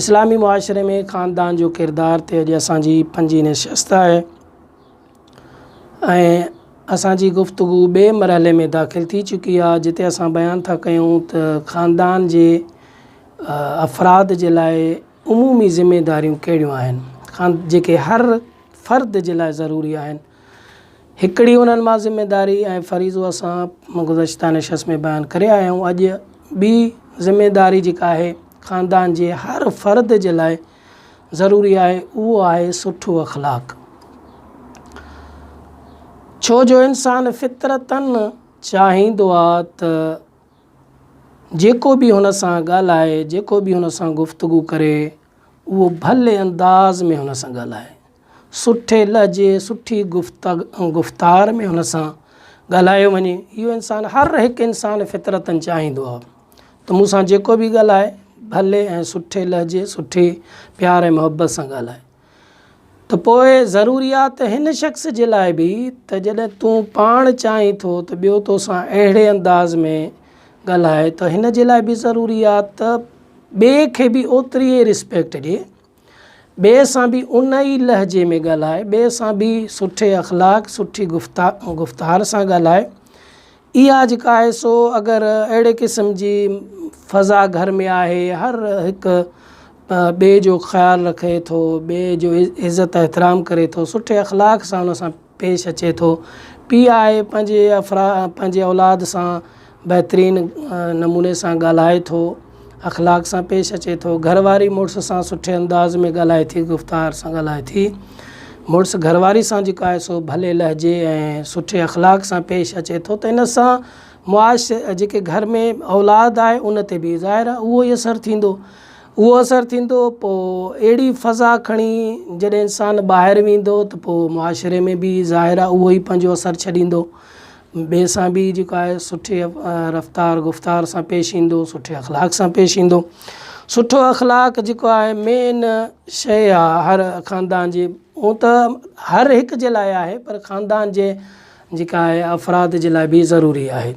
اسلامي معاشري ۾ خاندان جو ڪردار تي اڄ اسان جي پنجين نشست آهي ۽ اسان جي گفتگو ٻئي مرحلي ۾ داخل ٿي چڪي آهي جتي اسان بيان ٿا ڪيون ته خاندان جي افراد جي لاء عمومي ذميداريون ڪهڙيون آهن خان جيڪي هر فرد جي لاء ضروري آهن هڪڙي انهن مان ذميواري ۽ فريضو اسان گذشته نشست ۾ بيان ڪري آيا آهيون. اڄ ٻي ذميواري جيڪا آهي خاندان جي هر فرد جي لاء ضروري آهي اهو آهي سٺو اخلاق. ڇو جو انسان فطرتاً چاهيندو آهي ته جيڪو به هن سان ڳالهائي جيڪو به هن سان گفتگو ڪري اهو ڀلي انداز ۾ هن سان ڳالهائي. سٺي لهجي، سٺي گفتار ۾ هن سان ڳالهايو وڃي. اهو انسان هر هڪ انسان فطرتن چاهيندو آهي ته مون سان جيڪو به ڳالهائي ڀلي ۽ سٺي لهجي، سٺي پيار ۽ محبت سان ڳالهائي. ته پوء ضروري آهي ته هن شخص جي لاء به ته جڏهن تون پاڻ چاهين ٿو ته ٻيو تو سان اهڙي انداز ۾ ڳالهائي ته هن جي لاء به ضروري آهي ته ٻئي کي به اوتري ئي رسپيڪٽ ڏي. ٻئي سان به ان ئي لهجي ۾ ڳالهائي، ٻئي سان به سٺي اخلاق، سٺي گفتار سان ڳالهائي. اها جيڪا آهي سو اگر اهڙي قسم جي فضا گهر ۾ آهي، هر هڪ ٻئي جو خيال رکي ٿو، ٻئي جو عزت احترام ڪري ٿو، سٺي اخلاق سان ان سان پيش اچي ٿو. پيء آء پنهنجي پنهنجي اولاد سان بهترين نموني سان ڳالهائي ٿو، اخلاق سان پيش اچي ٿو. گهر واري مڙس سان سٺي انداز ۾ ڳالهائي ٿي، گفتار سان ڳالهائي ٿي. مڙس گهر واري سان جيڪو آهي سو ڀلي لهجي ۽ سٺي اخلاق سان پيش اچي ٿو ته ان سان معاش جيڪي گهر ۾ اولاد آهي ان تي به ظاهر آهي اهو ئي اثر ٿيندو. اهو اثر ٿيندو پوء اهڙي فضا کڻي جڏهن انسان ٻاهر ويندو ته پوء معاشري ۾ به ظاهر آهي اهو ئي پنهنجو اثر ڇڏيندو ٻئي سان به جيڪو آهي سٺي رفتار گفتار سان پيش ايندو سٺي اخلاق سان پيش ايندو سٺو اخلاق جيڪو آهي مين شيء آهي هر خاندان جي هو ته هر هڪ جي لاء آهي پر خاندان جي جيڪا آهي افراد جي لاء به ضروري آهي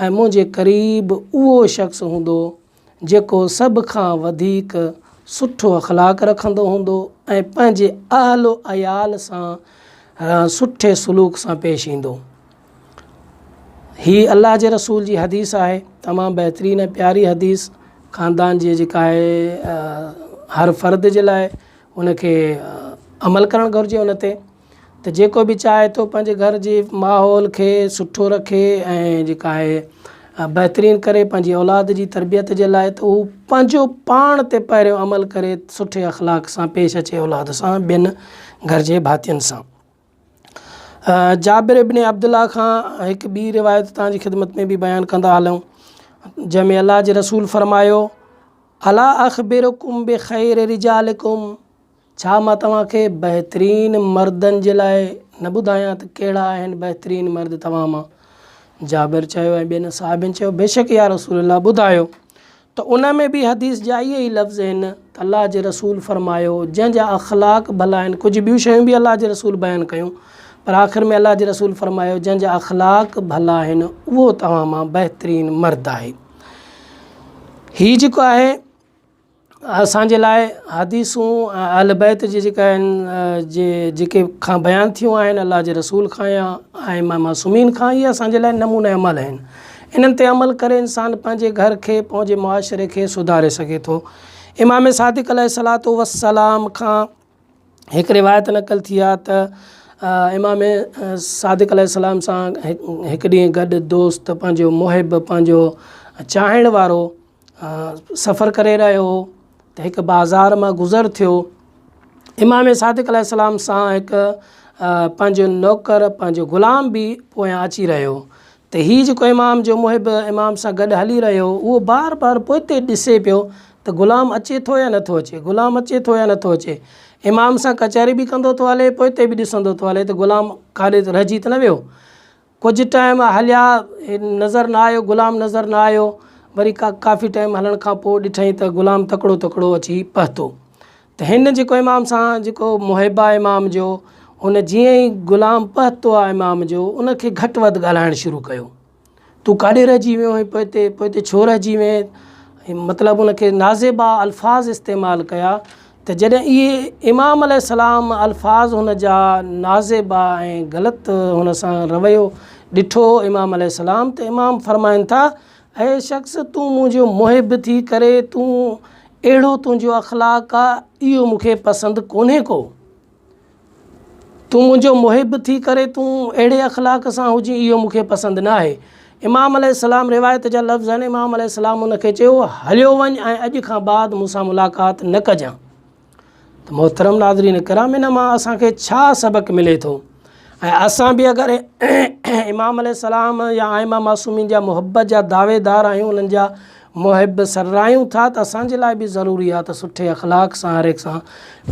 ۽ منهنجي قريب اهو شخص هوندو جيڪو سڀ کان وڌيڪ سٺو اخلاق رکندو هوندو ۽ پنهنجي اهل و عيال سان سٺي سلوڪ سان پيش ايندو. هي الله جي رسول جي حديث آهي تمام بهترين ۽ پياري حديث خاندان جي جيڪا آهي هر فرد جي لاء ان کي عمل ڪرڻ گهرجي ان تي ته جيڪو به چاهي ٿو پنهنجي گهر جي ماحول کي سٺو رکي ۽ جيڪا آهي بهترين ڪري پنهنجي اولاد جي تربيت جي لاء ته هو پنهنجو پاڻ تي پهريون عمل ڪري سٺي اخلاق سان پيش اچي اولاد سان ٻين گهر جي ڀاتين سان جابر ابن عبدالله کان هڪ ٻي روايت تان جي خدمت ۾ به بيان ڪندا هلون جنهن ۾ الله جي رسول فرمايو الا اخبرڪم بخير رجالڪم ڇا مان توهان کي بهترين مردن جي لاء نه ٻڌايان ته ڪهڙا آهن بهترين مرد توهان مان؟ جابر چيو ۽ ٻين صحابين چيو بيشڪ يا رسول الله ٻڌايو ته ان ۾ به حديث جا اهي ئي لفظ هن ته الله جي رسول فرمايو جنهن جا اخلاق ڀلا آهن ڪجهه ٻيون شيون به الله جي رسول بيان ڪيون پر آخر ۾ الله جي رسول فرمايو جنهن جا اخلاق ڀلا آهن اهو توهان مان بهترين مرد آهي هي جيڪو آهي اسان جي لاء حديثون ۽ اهل بيت جي جيڪا آهن جي جيڪي کان بيان ٿيون آهن الله جي رسول کان يا ائمه معصومين کان اهي اسان جي لاء نمونه عمل آهن انهن تي عمل ڪري انسان پنهنجي گهر کي پنهنجي معاشري کي سڌاري سگهي ٿو امام صادق عليه الصلاة والسلام کان هڪ روايت نقل ٿي آهي ته امام صادق عليه السلام سان هڪ ڏينهن گڏ دوست پنهنجو محب پنهنجو چاهڻ وارو سفر ڪري رهيو هو ته هڪ بازار مان گذر ٿيو امام صادق عليه السلام سان هڪ پنهنجو نوڪر پنهنجو غلام به پويان اچي رهيو هو ته هي جيڪو امام جو محب امام سان گڏ هلي رهيو هو اهو بار بار پوئتي ڏسي پيو ته غلام اچي ٿو يا نٿو اچي غلام اچي ٿو يا نٿو اچي امام سان ڪچهري به ڪندو ٿو هلي پوئتي به ڏسندو ٿو هلي ته غلام ڪاڏي رهجي ته نه ويو ڪجهه ٽائيم هليا نظر نه آيو غلام نظر نه آيو وري ڪا ڪافي ٽائيم هلڻ کان پوء ڏٺائين ته غلام تڪڙو تڪڙو اچي پهتو ته هن جيڪو امام سان جيڪو محب آ امام جو هن جيئن ئي غلام پهتو آ امام جو ان کي گهٽ وڌ ڳالهائڻ شروع ڪيو تون ڪاڏي رهجي ويو آهين پوء هتي پوء هتي ڇو رهجي وئين مطلب ان کي نازيبا الفاظ استعمال ڪيا ته جڏهن اهي، امام عليه السلام، الفاظ هن جا نازيبا ۽ غلط هن سان رويو ڏٺو هو امام عليه السلام ته امام فرمائن ٿا اي شخص تون منهنجو محب ٿي ڪري تون اهڙو تنهنجو اخلاق آ اهو مون کي پسند ڪونهي ڪو. تون منهنجو محب ٿي ڪري تون اهڙي اخلاق سان هجين اهو مون کي پسند نه آهي. امام عليه السلام روايت جا لفظ آهن امام عليه السلام ان کي چيو هليو وڃ ۽ اڄ کان بعد مون سان ملاقات نه ڪجان. ته محترم ناظرين ڪرام ان مان اسان کي ڇا سبق ملي ٿو؟ ۽ اسان به اگر امام عليه السلام يا ائمه معصومين جا محبت جا دعويدار آهيون انهن جا محب سرراهيون ٿا ته اسان جي لاء به ضروري آهي ته سٺي اخلاق سان هر هڪ سان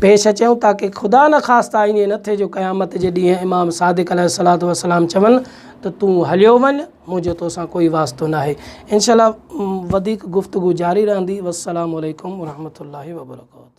پيش اچيون تاڪه خدا نخواسته ائين نه ٿئي جو قيامت جي ڏينهن امام صادق عليه الصلات والسلام چون ته تون هليو وڃ منهنجو توسان ڪوئي واسطو ناهي انشاء الله وڌيڪ گفتگو جاري رهندي والسلام عليڪم ورحمة الله وبرڪاته